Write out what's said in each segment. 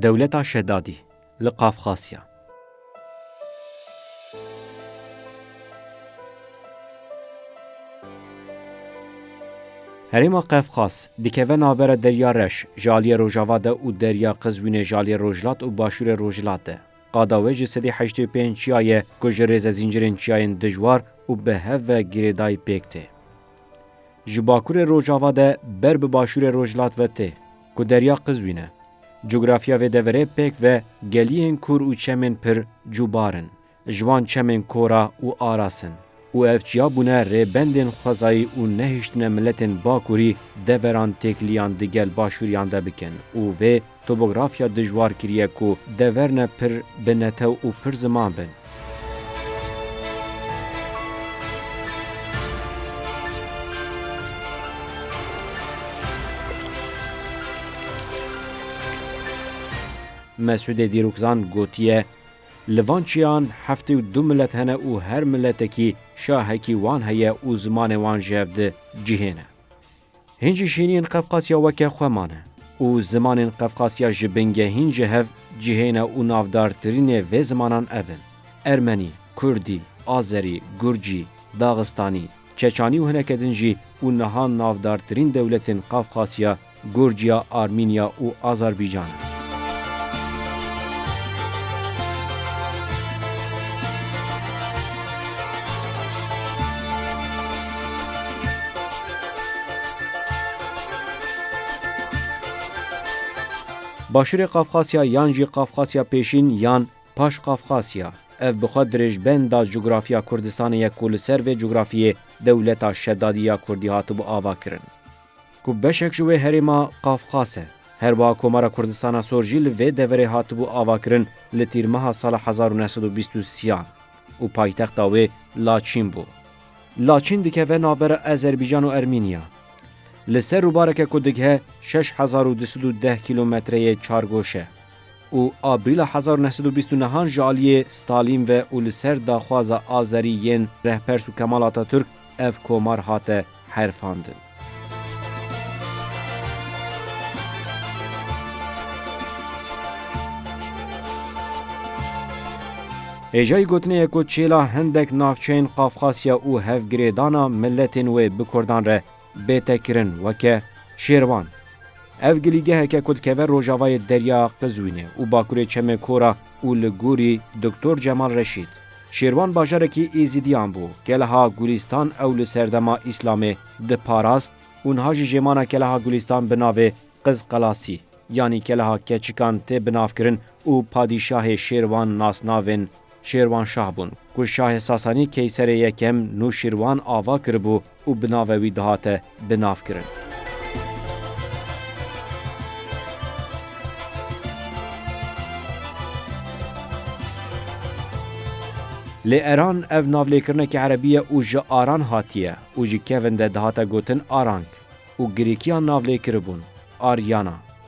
Dewleta Şedadî li Qafqasya. Herêma Qefqas dikeve navbera Derya Reş ji aliyê rojava de û Derya Qizwînê ji aliyê rojhilat û başûrê rojhilat de. Qada wê ji sedî heştê û pênc çiya ye ku ji rêze zîncirên çiyayên dijwar û bi hev ve girêdayî pêk tê. Ji bakurê rojava de ber bi başûrê rojhilat ve tê ku derya Qizwîn e. Cografya vê deverê pêk ve geliyên kûr û çemên pir cûbar in. Ji wan çemên Kora û Aras in. Û ev çiya bûne rêbendên xwezayî û nehiştine miletên Bakurî deveran têkiliyan di gel Başûriyan de bikin û vê tobografya dijwar kiriye ku dever ne pir bi netew û pir ziman bin. Mesûdê Dîrokzan gotiye, Li van çiyan heftê û du milet hene û her miletekî şahekî wan heye û zimanê wan ji hev di cihêne. Hîn jî şîniyên Qefqasya weke xwe mane û zimanên Qefqasya ji bingehîn ji hev cihêne û navdartirînê vê zimanan ev in, Ermenî, Kurdî, Azerî, Gurcî, Daxistanî, Çeçanî û hineke din jî û niha navdartirîn dewletên Qafqasya Gurciya Armînya û Azerbaycan. Başûrê Qafqasya yan jî Qafqasya Pêşîn yan Paş Qafqasya, ev bi xwe dirêjbenda cugurafya Kurdistanê ye ku li ser vê cugurafiyê dewleta Şedadî ya Kurdî hatibû avakirin. ku beşek ji wê herêma Qafqas e. Herwiha Komara Kurdistana Sor jî li vê deverê hatibû avakirin li tîrmeha sala hezar û neh sed û bîst û siyan û paytexta wê Laçîn bû. Laçîn dikeve navbera Ezerbîcan û Ermînya. Li ser rûbareke ku digihe şeş hezar û du sed û deh kîlometreyê çargoş e û Abrîla hezar û neh sed û bîst û nehan ji aliyê Stalîn ve û li ser daxwaza Azerî yên Rehpers û Kemal Atatürk ev komar hate herfandin. Hêjayî gotinê ye ku çêla hindek navçeyên Qafqasya û hevgirêdana miletên wê bi kurdan re bête kirin weke Şêrvan. Ev gilîgeheke ku dikeve rojavayê Derya Qizwînê û bakurê Çemê Kora û li gorî Doktor Cemal Reşîd. Şêrwan bajarekî Êzîdiyan bû, Keleha Gulîstan ew li serdema Îslamê diparast û niha jî jêmana Keleha Gulîstan bi navê Qizqelasî yanî Keleha Keçikan tê binavkirin û padîşahê Şêrwan nasnavên Şêrwanşah bûn ku şahê Sasanî Keyserê Yekem Nûşîrwan ava kiribû û bi navê wî dihate binavkirin. Lê Eran ev navlêkirinekî erebî ye û ji Aran hatiye û ji kevin de dihate gotin Arank û girîkiyan navlê kiribûn, Aryana.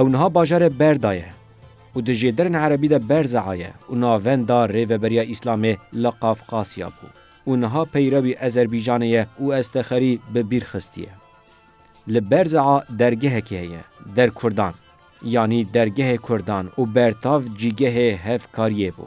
Ew niha bajarê Berda ye û di jêderên erebî de Berza'a ye û navenda Rêveberiya Îslamê li Qafqasya bû û niha peyrewî Ezerbîjanê ye û Estexerî bi bîr xistiye. Li Berza'a dergehekî heye, Derkurdan, yanî Dergehê Kurdan û bertav cîgehê hevkariyê bû.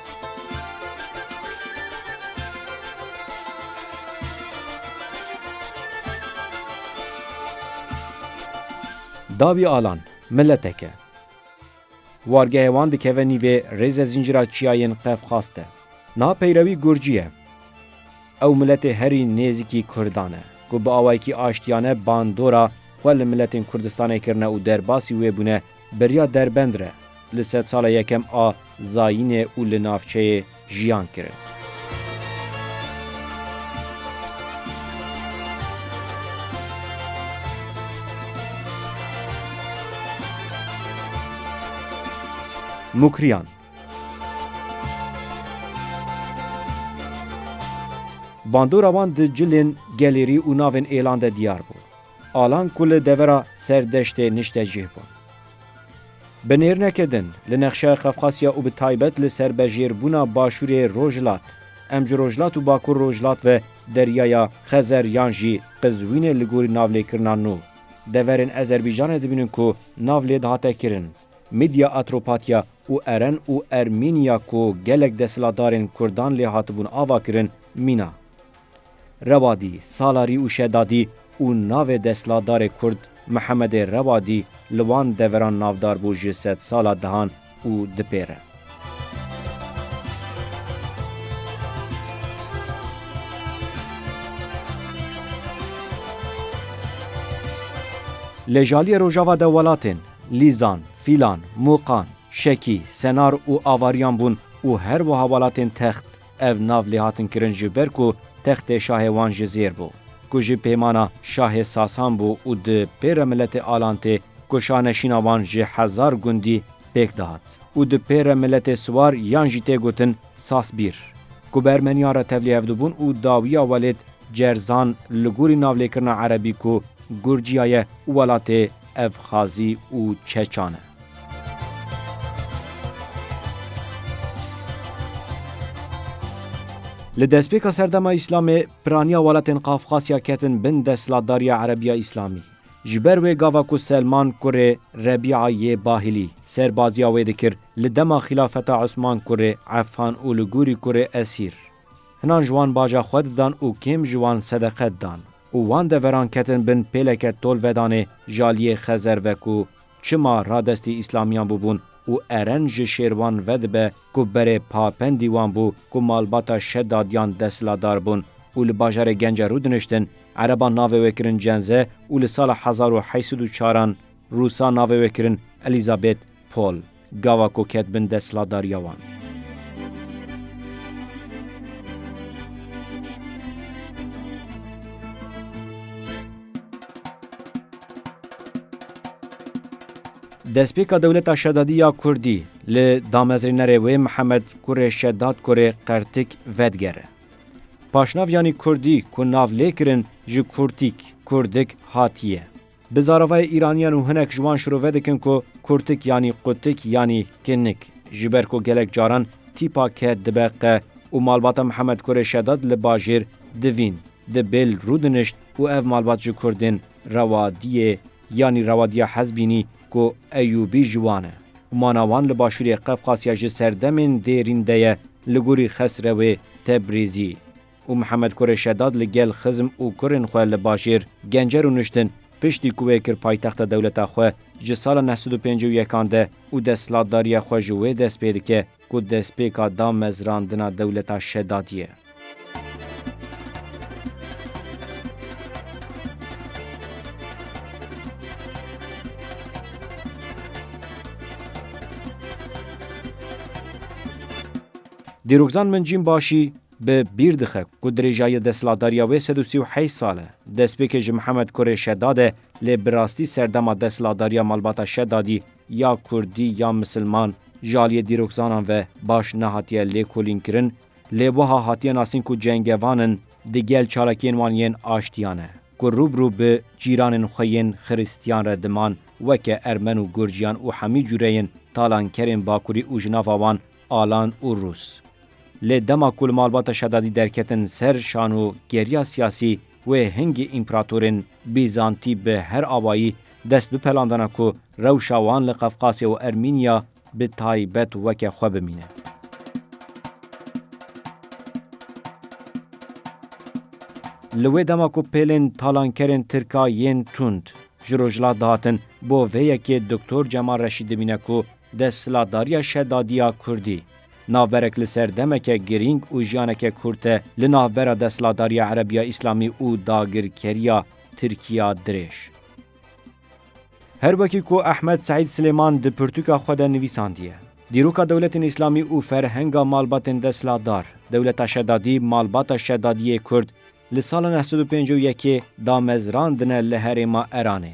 Dawî alan, miletek e. Wargehê wan dikeve nîvê rêze zîncira çiyayên Qefqas de. Niha peyrewî Gurcî ye. Ew miletê herî nêzîkî Kurdan e, ku bi awayekî aştiyane bandora xwe li miletên Kurdistanê kirine û derbasî wê bûne Beriya derbend re li sedsala yekem a zayînê û li navçeyê jiyan kirin. Mukriyan Bandora wan di cilên gelêrî û navên êlan de diyar bû. Alan ku li devera ser deştê niştecîh bûn. Bi nêrneke din, li nexşeya Qafqasya û bi taybet li ser bejêrbûna Başûrê Rojhilat, em ji Rojhilat û Bakur Rojhilat ve deryaya Xezer yan jî Qizwînê li gorî navlêkirina nû deverên Ezerbîjanê dibînin ku nav lê dihate kirin Midya Atropatya û Eren û Ermînya ku gelek desthilatdarên Kurdan lê hatibûn avakirin mîna Rewadî, Salarî û Şedadî û navê destlatdarê Kurd Mihemedê Rewadî li wan deveran navdar bû ji sedsala dihan û dipêre. Lê ji aliyê rojava de welatên, Lîzan, Fîlan, Mûqan, Şekî, Senar û Avariyan bûn û her wiha welatên text, Ev nav lê hatin kirin ji ber ku textê şahê wan ji zêr bû, ku jî pêymana şahê Sasan bû û di pê re miletê Alan tê ku şahneşîna wan ji hezar gundî pêk dihat û di pê re miletê Siwar yan jî tê gotin Sasbîr ku bi Ermeniyan re tevlî hevdibûn û dawiya welêt Cerzan li gorî navlêkirina Erebî ku Gurciya ye û welatê Evxazî û Çeçan e. Li destpêka serdema Îslamê piraniya welatên Qafqasya ketin bin desthilatdariya Erebiya Îslamî. Ji ber wê gava ku Selman kurê Rebîa yê Bahilî serbaziya wê dikir li dema xîlafeta Osman kurê Efan û li gorî kurê Esîr. Hinan ji wan baja xwe didan û kêm ji wan sedeqe didan û wan deveran ketin bin pêleke tolvedanê jaliyê Xezer veku Çima radestî îslamiyan bûbûn û eren ji şêrwan vedibe ku berê Papendî wan bû ku malbata Şedadiyan desthilatdar bûn û li bajarê Gence Rû diniştin, ereban navê wê kirin Cenze û li sala hezar û heşt sed û çar an rûsa navê wê kirin Elîzabêt Pol. Gava ku ket bin destladariya wan. Destpêka dewleta Şedadî ya Kurdî li damezrênerê wê Mihemed kurê Şedad kurê Qertik vedigere. Paşnaviyanî Kurdî ku nav lê kirin ji Kurtîk, Kurdik, hatiye. Bi zaravayê Îraniyan û hinek ji wan şirove dikin ku kurtik yanî qutik yanî kinnik ji ber ku gelek caran tîpa ke dibe qe û malbata Mihemed Kurê Şedad li bajêr divîn di bêl rûdinişt û ev malbat ji kurdên rewa diyê yanî rewa diya hez bînî ku Eyûbî ji wan e û mana wan li başûrê Qefqasya ji serdemên dêrîn de ye li gorî Xesrewê Tebrîzî. û Mihemed Kurê Şedad li gel xizm û kurên xwe li bajêr Gencer û Nuştin piştî ku wê kir paytexta dewleta xwe ji sala neh sed û pêncî û yekan de û desthilatdariya xwe ji wê dest pê dike ku destpêka damezrandina dewleta Şedadî ye. Dîrokzan Mincîn Başî, Bi bîr dixe ku dirêjayî desthilatdariya wê sed û sî û heyş sal e. Destpêkê ji Mihemed Kurê Şedad e lê bi rastî serdema desthilatdariya malbata Şedadî ya Kurdî ya Misilman ji aliyê dîrokzanan ve baş nehatiye lêkolînkirin lê wiha hatiye nasîn ku cengevan in di gel çalakiyên wan yên aştiya ne ku rû bi rû bi cîranên xwe yên xirîstiyan re diman weke Ermen û Gurciyan û hemî cûreyên talankerên bakurî û ji nava wan Alan û Rûs. Lê dema ku li malbata Şedadî derketin ser şan û geriya siyasî wê hingî împeratorên Bîzantî bi her avayî dest bipelandana ku rewşa wan li Qefqasya û Ermînya bi taybet weke xwe bimîne. Li wê dema ku pêlên talankerên Tirka yên tund ji Rojhilat dihatin bo vê yekê Doktor Cemal Reşîd dimîne ku desthilatdariya Şedadiya Kurdî, Navberek li ser demeke girîng û jiyaneke kurt e li navbera desthilatdariya Erebiya Îslamî û dagirkeriya Tirkiya dirêj. Her wekî ku Ehmed Seîd Silêman di pirtûka xwe de nivîsandiye, Dîroka dewletên Îslamî û ferhenga malbatên desthilatdar, dewleta şedadî, malbata şedadiyê kurd li sala neh sed û pêncî û yekê damezrandine li herêma Eranê.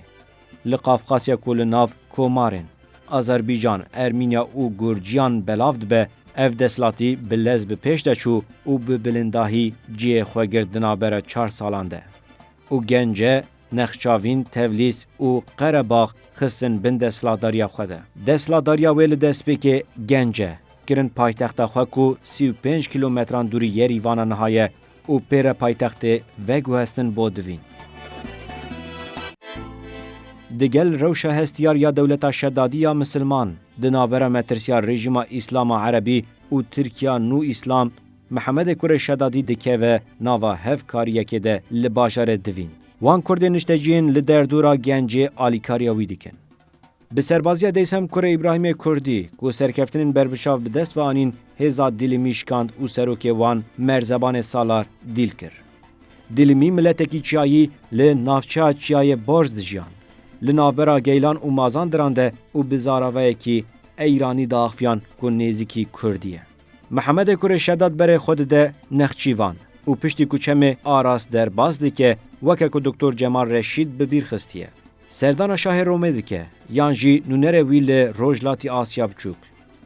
Li Qafqasya ku li nav komarên Azerbîcan, Ermînya û Gurciyan belav dibe, ev desthilatî bi lez bi pêş de çû û bi bilindahî cihê xwe girt di navbera çar salan de. Û Gence, Nexçavîn, Tevlîs û Qerebax xistin bin desthilatdariya xwe de. Desthilatdariya wê li destpêkê Gence, kirin paytexta xwe ku sî û pênc kîlometran dûrî Yerîvana niha ye, Û pê re paytextê veguhestin bo divîn. Di gel rewşa hestiyar ya dewleta şedadî ya misilman, di navbera metirsiya rejîma îslama erebî û Tirkiya nû îslam, Mihemedê Kurê Şedadî dikeve nava hevkariyekê de li bajarê divîn. Wan Kurdên niştecî yên li derdora gencê alîkariya wî dikin. Bi serbaziya Deysem Kurê Îbrahîmê Kurdî ku serkeftinên berbiçav bi dest ve anîn hêza Dîlimî şikand û serokê wan Merzebanê Salar dîl kir. Dîlimî miletekî çiyayî li navçeya Çiyayê Barj dijiyan. Li navbera Geylan û Mazandiran de û bi zaravayekî Eyranî diaxiviyan ku nêzîkî Kurdî ye. Mihemedê Kurê Şedat berê xwe dide Nexçîvan û piştî ku çemê Aras derbas dike weke ku Doktor Cemal Reşîd bi bîr xistiye. Serdana şahê Romê dike, yan jî nûnerê wî li Rojhilatî Asya Biçûk.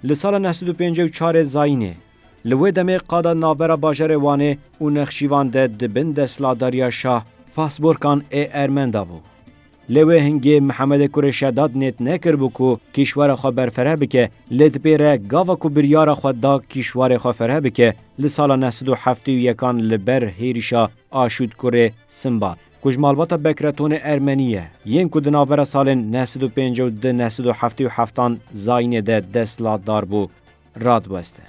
Li sala neh sed û pêncî û çarê Zayînê, li wê demê qada navbera bajarê Wanê û Nexşîvan de di bin desthilatdariya şah Fahsborkan ê Ermen de bû. Lê wê hingê Mihemedê Kurê Şeddad nêt nekiribû ku kîşwera xwe berfireh bike, lê di pê re gava ku biryara xwe da kîşwarê xwe fireh bike li sala neh sed û heftê û yekan li ber hêrişa Aşût Kurê Simbat. Ku ji malbata Bekretonê Ermenî ye, yên ku di navbera salên neh sed û pêncî û du neh sed û heftê û heftan zayînê de destlatdar bû, radiweste.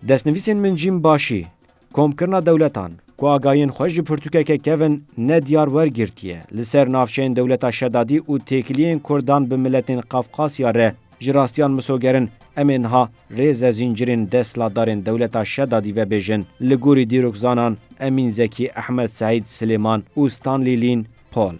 Destnivîsên min cîm başî, Komkirina dewletan, ku agahiyên xwe ji pirtûkeke kevn ne diyar wergirtiye, li ser navçeyên dewleta Şedadî û têkiliyên kurdan bi miletên Qafqasya re, Ji rastiyan misogerin, em ê niha rêze zîncirên desthilatdarên dewleta Şedadî vebêjin. Li gorî dîrokzanan Emîn Zekî, Ehmed Seîd, Silêman û Stanley Lîn, Paul.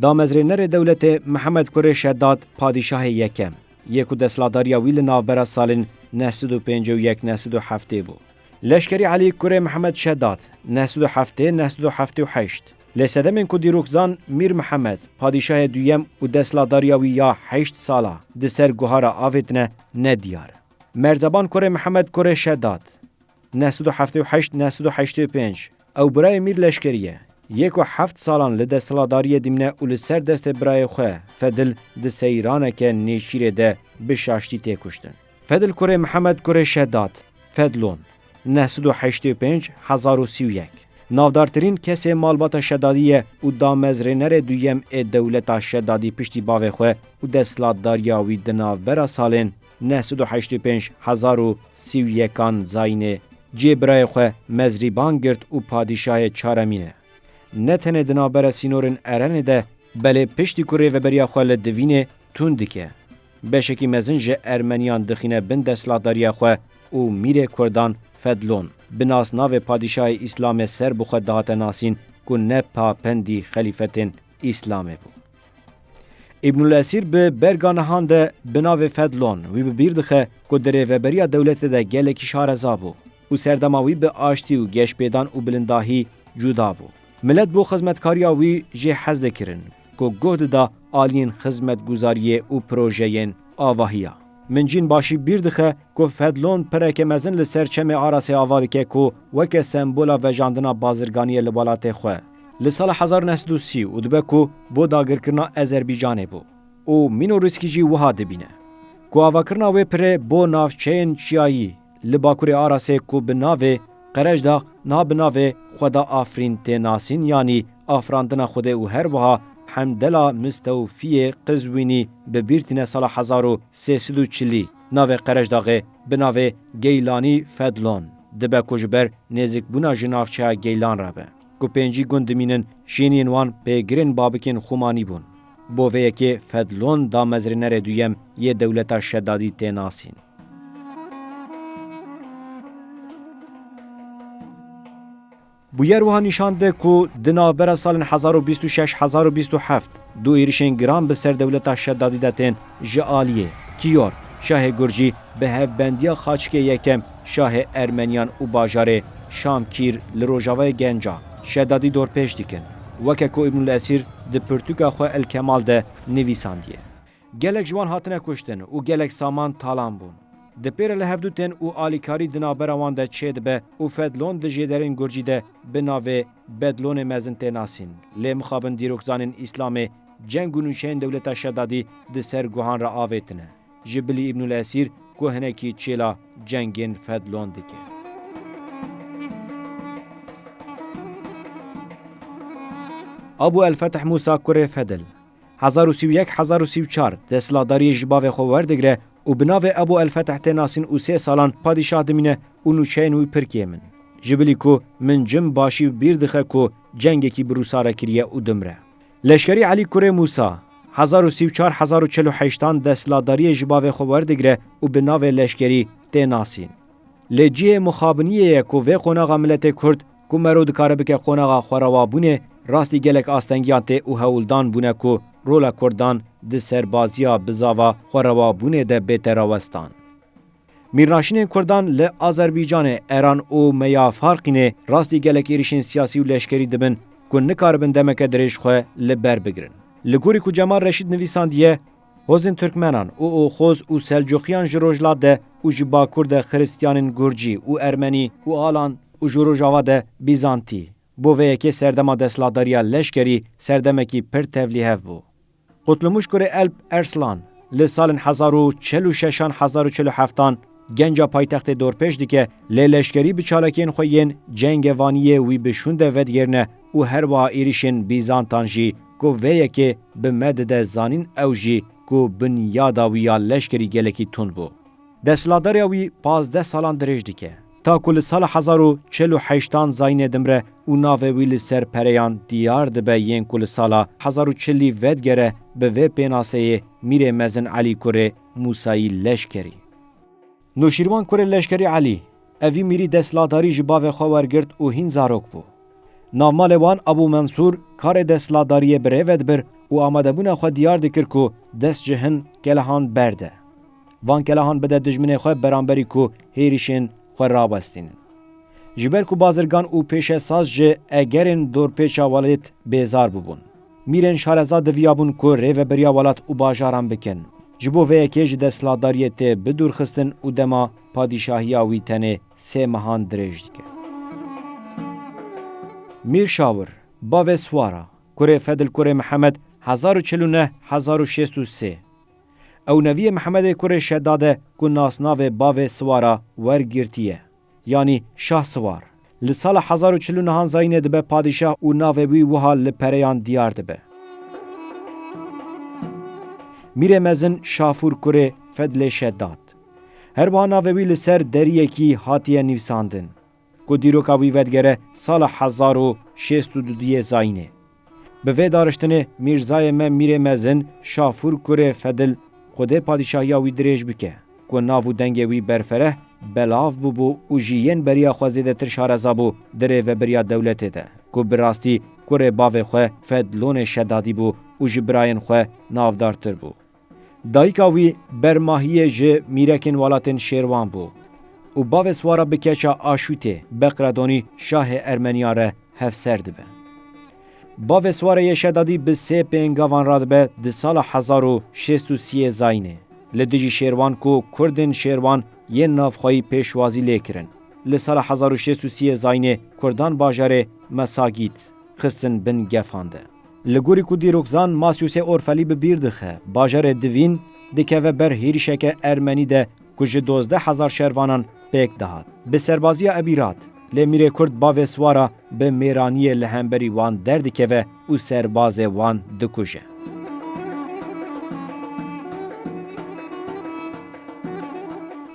Damezrênerê dewletê Mihemed Kurê Şedad, Padîşahê Yekem, yê ku desthilatdariya wî li navbera salên neh sed û pêncî û yek neh sed û heftê bû. Leşkerî Elî Kurê Mihemed Şedad, neh sed û heftê neh sed û heftê û heşt. Lê sedemên ku dîrok zan Mîr Mihemed, padîşahê duyem û destladariya wî ya heşt sala di ser guhara avê tine ne diyar e. Merzeban kurê Mihemed kurê Şedat, neh sed û heftê û heşt neh sed û heştê û pênc, ew birayê Mîr Leşkerî ye. Yê ku heft salan li desthiladariyê dimîne û li ser destê birayê xwe Fedil di seyraneke nêçîrê de bi şaştî tê kuştin. Fedl kurê Mihemed kurê Şeddad, Fedlon, neh sed û heştê û pênc hezar û sî û yek, navdartirîn kesê malbata Şeddadî ye û damezrênerê duyem ê dewleta Şeddadî piştî bavê xwe û desthilatdariya wî di navbera salên neh sed û heştê û pênc hezar û sî û yekan zayînê cihê birayê xwe mezrîban girt û padîşahê çaremîn e ne tenê di navbera sînorên Erenê de belê piştî ku rêveberiya xwe li Divînê tund dike. Beşekî mezin ji Ermeniyan dixîne bin destlatdariya xwe û mîrê Kurdan Fedlon bi nasnavê Padîşahê Îslamê ser bi xwe dihate nasîn ku ne papendî xelîfetên Îslamê bû. Îbnulesîr bi berga nihan de bi navê Fedlon wî bi bîr dixe ku di rêveberiya dewletê de gelekî şareza bû. Û serdema wî bi aştî û geşpêdan û bilindahî cuda bû. Milet bo xizmetkariya wî jê hez dikirin ku guh dida aliyên xizmetguzariyê û projeyên avahiya. Min cîn başî bîr dixe ku Fedlon pireke mezin li ser çemê Arasê ava dike ku weke sembola vejandina bazirganiyê li welatê xwe li sala hezar û neh sed û sî û dibe ku bo dagirkirina Ezerbîcanê bû û Mînorîskî jî wiha dibîne ku avakirina wê pirê bo navçeyên çiyayî Li Bakurê Arasê ku bi navê, Qerejdax, na bi navê, Xweda Afrîn, tê nasîn yanî Afirandina Xwedê û her wiha Hemdela Mistewfiyê Qizwînî bi bîr tîne sala hezar û sê sed û çilî navê Qerejdaxê bi navê Geylanî Fedlon dibe ku ji ber nêzikbûna ji navçeya Geylan re be. Ku pêncî gund dimînin, jêniyên wan pêgirên babikên Xumanî bûn. Bo vê yekê Fedlon damezrênerê duyem yê dewleta Şedadî tê nasîn. Bûyer wiha nîşan de ku di navbera salên hezar û bîst û şeş hezar û bîst û heft du êrişên giran bi ser dewleta Şedadî de tên, Ji aliyê, Kiyor, şahê Gurjî bi hevbendiya xaçikê yekem şahê Ermeniyan û bajarê Şam Kîr li rojavayê Genca, Şedadî dorpêş dikin, weke ku Îbnul Esîr di pirtûka xwe El Kemal de nivîsandiye. Gelek ji wan hatine kuştin û gelek saman talan bûn. Di pê re li hev du tên û alîkarî di navbera wan de çêdibe û Fedlon di jêderên Gurjî de bi navê Bedlonê mezin tê nasîn. Lê mixabin dîrokzanên Îslamê ceng û nûçeyên dewleta Şedadî di ser guhan re avêtine. Ji bilî Îbnul Esîr ku hinekî çêla cengên Fedlon dike. Abu El Fetih Mûsa kurê Fedl. Hezar û sî û yek hezar û sî û çar desthilatdariyê ji bavê xwe werdigre û bi navê Ebû El-Feteh tê nasîn û sê salan padîşah dimîne û nûçeyên wî pirkê min. Ji bilî ku min cim başî bi bîr dixe ku cengekî bi Rûsa re kiriye û dimre. Leşkerî Elî Kurê Mûsa, hezar û sî û çar hezar û çil û heşt an desthilatdariyê ji bavê xwe werdigre û bi navê leşkerî tê nasîn. Lê cihê mixabiniyê ye ku vê qonaxa miletê Kurd, Ku mero dikare bike qonaxa xwerawabûnê, rastî gelek astengiyan tê û hewldan bûne ku rola Kurdan di serbaziya bizava xwerawabûnê de bête rawestan. Mîrnaşînên Kurdan li Azerbaycanê, Eran û Meyafarqînê rastî gelek êrîşên siyasî û leşkerî dibin ku nikaribin demeke dirêj xwe li ber bigirin. Li gorî ku Cemal Reşîd nivîsandiye, Hozên Tirkmenan û Oxoz û Selcuqiyan ji Rojhilat de û ji Bakur de Xiristiyanên Gurcî û Ermenî û Alan û ji Rojava de Bîzantî. Bo vê yekê serdema desthilatdariya leşkerî serdemekî pir tevlîhev bû. Kutlumûş kurê Elp Erslan li salên hezar û çil û şeşan hezar û çil û heftan, Genca paytextê dorpêş dike lê leşkerî bi çalakiyên xwe yên Cengê Vaniyê wî bi şûnde vedigêrine û her wiha êrîşên bîzantan jî ku vê yekê bi me dide zanîn ew jî ku binyada wî ya leşkerî gelekî tund bû. Desthilatdariya wî pazdeh salan dirêj dike. Ta ku li sala hezar û çil û heşt an Zaînê dimre û navê wî li ser pereyan diyar dibe yên ku li sala hezar û çilî vedigere bi vê pênaseyê Mîrê Mezin Elî kurê Musayî Leşkerî. Nûşîrvan kurê Leşkerî Elî, evî mîrî desthilatdarî ji bavê xwe wergirt û hîn zarok bû. Navmalê wan Ebû Mensûr karê desthilatdariyê bi rê ve dibir û amadebûna xwe diyar dikir ku dest ji hin kelehan berde. Van kelehan bide dijminê xwe beramberî ku hêrîşên xwe rawestînin. Ji ber ku bazirgan û pêşesaz ji egerên dorpêça welêt bêzar bûbûn. Mîrên Şareza diviyabûn ku rêveberiya welat û bajaran bikin. Ji bo vê yekê ji desthilatdariyê tê bidûrxistin û dema padîşahiya wî tenê sê mehan dirêj dike. Mîr Şawir, bavê Swara, kurê Fedil Kurê Mihemed, hezar û çil û neh hezar û şêst û sê. Ew neviyê Mihemedê Kurê Şedad e ku nasnavê bavê Swara wer girtiye. Yanî Şahsiwar. Li sala hezar û çil û nihan Zayînê dibe padîşah û navê wî wiha li pereyan diyar dibe. Mîrê mezin Şafûr kurê Fedlê Şeddad. Her wiha navê wî li ser deriyekî hatiye nivîsandin. Ku dîroka wî vedigere sala hezar û şêst û du duyê Zayînê. Bi vê dariştinê Mîrzayê me Mîrê Mezin Şafûr kurê Fedil Xwedê padîşahiya wî dirêj bike ku nav û dengê wî berfereh belav bûbû û jî yên beriya xwe zêdetir şareza bû di rêvebiriya dewletê de ku bi rastî kurê bavê xwe Fedlonê Şedadî bû û ji birayên xwe navdartir bû. Dayika wî ber mahiyê ji mîrekên welatên Şêrwan bû û bavê swara bi keça Aşûtê, Beqredonî, şahê Ermeniyan re hevser dibe. Bavê swara yê Şedadî bi sê pêngavan radibe di sala hezar û şêst û sîyê Zayînê li dijî Şêrwan ku Kurdên Şêrwan yên navxweyî pêşwazî lê kirin. Li sala hezar û şêst û sîyê Zayînê Kurdan bajarê Mesagît xistin bin gefan de. Li gorî ku dîrokzan Masiusê Orfelî bi bîr dixe, bajarê Divîn dikeve ber hêrişeke ermenî de ku ji dozdeh hezar şervanan pêk dihat. Bi serbaziya Ebîrat, lê mîrê Kurd bavê siwara bi mêraniyê li hemberî wan derdikeve û serbazê wan dikuje.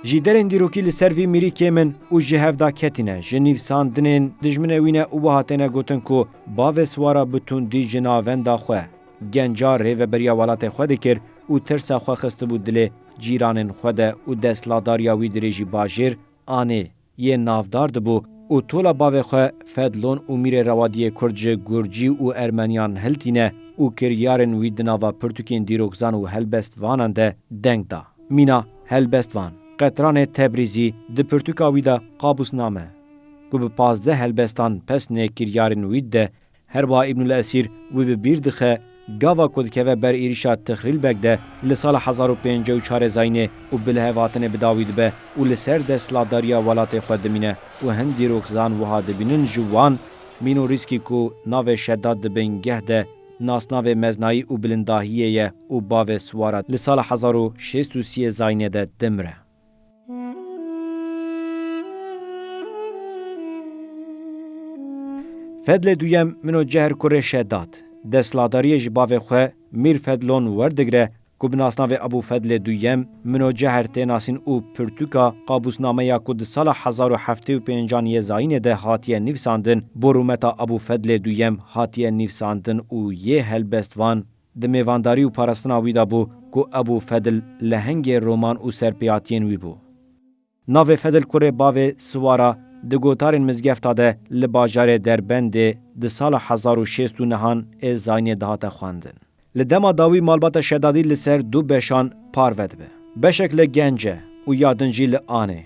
Ji derên dîrokî li ser vî mîrî kêm in û ji hev da ketîne, ji nîvsandinên dijminê wî ne û wiha têne gotin ku, Bavê Swara bi tundî ji navenda xwe, genca rêveberiya welatê xwe dikir û tirsa xwe xistibû dilê cîranên xwe de û destladariya wî dirêjî bajêr, anê, yê navdar dibû û tola bavê xwe Fedlon û Mîrê Rewadiyê Kurd ji Gurcî û Ermeniyan hiltîne û kiryarên wî di nava pirtûkên dîrokzan û helbestvanan de deng da. Mîna helbestvan, qetranê Tebrîzî, di pirtûka wî de Qabusname, ku bi pazdeh helbestan pes nê kiryarên wîd de her wiha Îbnul Esîr wî bi bîr dixe gava ku dikeve ber êrîşa Tixrîlbeg de li sala hezar û pêncî û çar e Zaynê û bi lihevhatine bi dawî dibe û li ser desthilatdariya welatê xwe dimîne û hin dîrokzan wiha dibînin ji wan Mînorîskî ku navê Şeddad di bingeh de nasnavê meznayî û bilindahiyê ye û bavê Siwara li sala hezar û şêst û sî e Zaynê de dimire. Fedlê duyem min o cehr kurê Şedat. Desthiladariyê ji bavê xwe Mîr Fedlon werdigre ku bi nasnavê Ebû Fedlê Duyem min o cehr tê nasîn û pirtûka qabûsnameya ku di sala hezar û heftê û pênc an yê zayînê de hatiye nivîsandin bo rûmeta Ebû Fedlê Duyem hatiye nivîsandin û yê helbestvan Di mêvandarî û parastina wî de bû ku Ebû Fedl lehengê roman û serpêhatiyên wî bû. Navê Fedl kurê bavê Siwara di gotarên mizgefta de li bajarê Derbendê di sala hezar û şêst û nehan ê Zayniyê dihate xwendin. Li dema dawî malbata Şedadî li ser du beşan parve dibe. Beşek li Gence û ya din jî li Anê.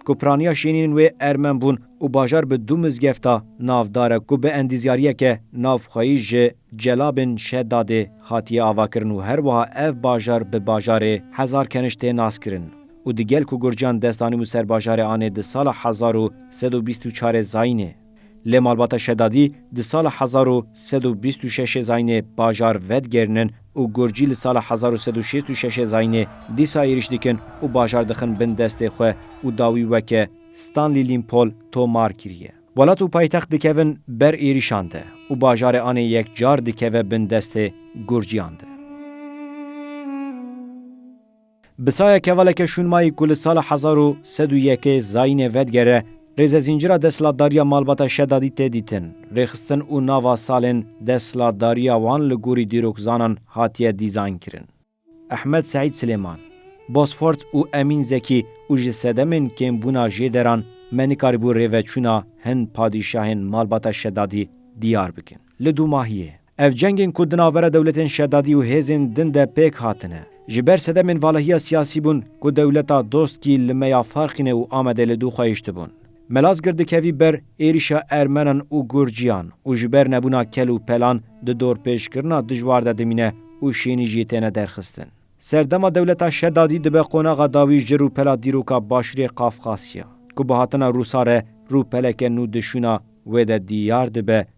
Ku piraniya şênînên wê ermen bûn û bajar bi du mizgefta navdar e ku bi endîzyariyeke navxweyî ji Celabên Şedadê hatiye avakirin û herwiha ev bajar bi bajarê Hezarkeniş tê naskirin û di gel ku Gurciyan dest anîbû ser bajarê anê di sala hezar û sed û bîst û çarê zayînê Lê malbata Şedadî di sala hezar û sed û bîst û şeşê zayînê bajar vedigerînin û Gurcî li sala hezar û sed û şêst û şeşê zayînê dîsa êrîş dikin û bajar dixin bin destê xwe û dawî weke Stanley Limpol tomar kiriye. Welat û paytext dikevin ber êrîşan de û bajarê anê yekcar dikeve bin destê Gurcîyan de. Bi saya kevaleke şûnmayî ku li sala hezar û sed û yekê zayînê vedigere, rêzezîncira desthilatdariya malbata Şedadî tê dîtin, rêxistin û nava salên desthilatdariya wan li gorî dîrokzanan hatiye dîzaynkirin. Ehmed Seîd Silêman, Bosfort û Emîn Zekî û ji sedemên kêmbûna jê deran me nikarîbû rêveçûna hin padîşahên malbata Şedadî diyar bikin. Li dûmahiyê. Ev cengên ku di navbera dewletên şedadî û hêzên din de pêk hatine, ji ber sedemên valahiya siyasî bûn ku dewleta dostkî li me ya Farxîne û Amedê li dûxayiştibûn. Melazgirt dikevî ber êrîşa Ermenan û Gurciyan û ji ber nebûna kel û pelan di dorpêçkirina dijwar de dimîne û şênî jî têne derxistin. Serdema dewleta şedadî dibe qonaxa dawî ji rûpela dîroka Başûrê Qafqasya, ku bi hatina Rûsa re rûpeleke nû di şûna wê de dîyar dibe